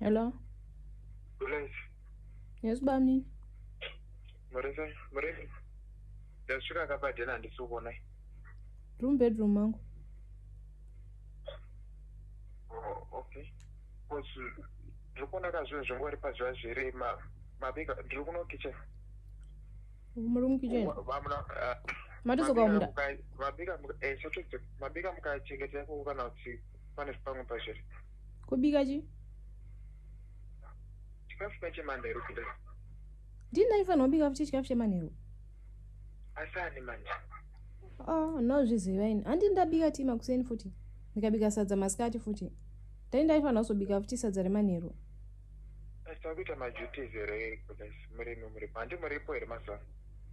Hello. Yes. Yes, Bami. Marisa, Marisa. Ndasvika akabadena handisi kuona. Room bedroom mangu. Oh, okay. Because ndiri kuona ka zvinhu zvangu vari pazuva zvere ma- mabika ndiri kuno kitchen. muri mukicheni Wa- vamuna, ah, matizoka mabika munda muka- mabika muka- eh, sotodzo- mabika mukachengetera kuku kana kuti pane pamwe pazviri kubika chi chikafu chemandero kudai ndini ndaifanirwa kubika futi chikafu chemanheru asani manje oh nozviziva ini handi ndabika tii makuseni futi ndikabika sadza masikati futi dai ndaifanira kuzobika futi sadza remanheru asita kuita maduties here murimi muripo handi muripo here mazuva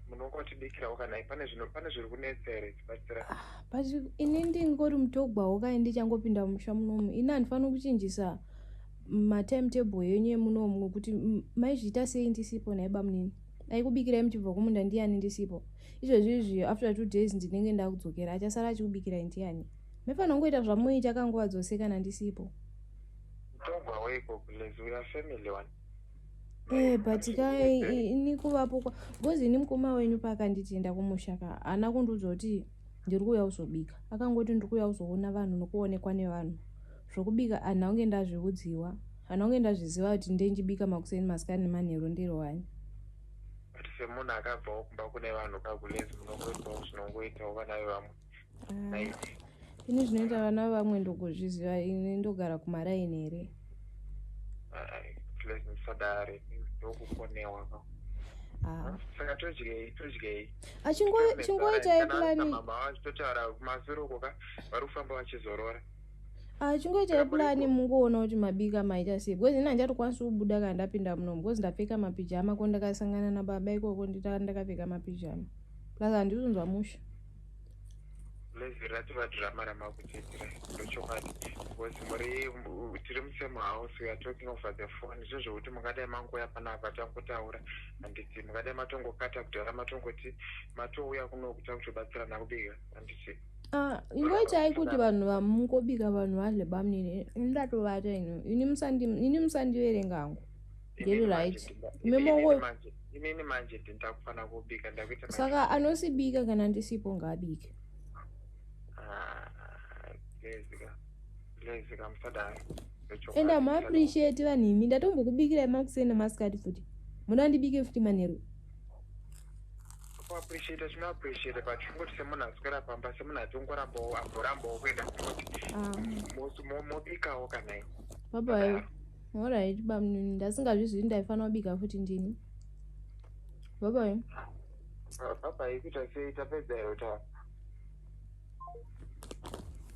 munongotibikirawo kana pane zvino pane zviri kunetsa here tibatsira ah, but ini ndingori mutogwawo kai ndichangopinda mumusha munomu ini handifaniri kuchinjisa matimetable yenyu yemunomu ngokuti maizviita sei ndisipo naiba munini aikubikirai muchibva kumunda ndiani ndisipo izvezvi izviyo after two days ndinenge ndakudzokera achasara achikubikirai ndiani mefanira kungoita zvamunoita kanguva dzose kana ndisipo togwa weko plus we are family one ee eh, but ka ini kuvapo because ini mukoma wenyu paakanditenda kumusha ka haana kundiudza kuti ndiri kuuya kuzobika akangoti ndiri kuuya kuzoona vanhu nokuonekwa nevanhu zvokubika anhu aunge ndazviudziwa Vanonge ndazviziva kuti ndenjibika makuseni masikani nemanheru ndiro wani. But semunhu akabvawo kumba kune vanhu kagulezi munongoitawo zvinongoitawo vana vevamwe. Ah ini zvinoita vana vamwe ndokuzviziva ini ndogara kumaraini here ah. ah, chingoitai plani Ah, chingoitai pulani mungoona kuti mabika maita sei because ini handichatokwanisi kubuda kana ndapinda muno because ndapfeka mapijama ko ndakasangana nababa ikoko ndita ndakapfeka mapijama plus handizonzwa musha lezi rati vadhirama ramakudzidzira ndochokwadi because muri tiri musame house weare talking over the phone zvo zvekuti mungadai mangouya panapa tangotaura handiti mungadai matongokata kudhara matongoti matouya kunokuta kutobatsirana kubika handiti Ah, ingoitai kuti vanhu vamungobika vanhu vadle bamnini ndatovata ino ini musandiverenga hangu ndiri right inini manje ndindakufanira kubika ndakuita saka anosibika kana ndisipo ngaabike and am appreciate vanhu imi ndatombokubikirai makuseni nemasikati futi muda ndibike futi manheru kuappreciate tinoappreciate but kungoti semunhu aswera pamba semunhu ati ungorambawo amborambawo kuenda kunoti ah. mobikawo kanai baba orit bamnini ndasingazvizvii ndaifanira kubika futi ndini babayo babai kuita sei tapedza iro tawa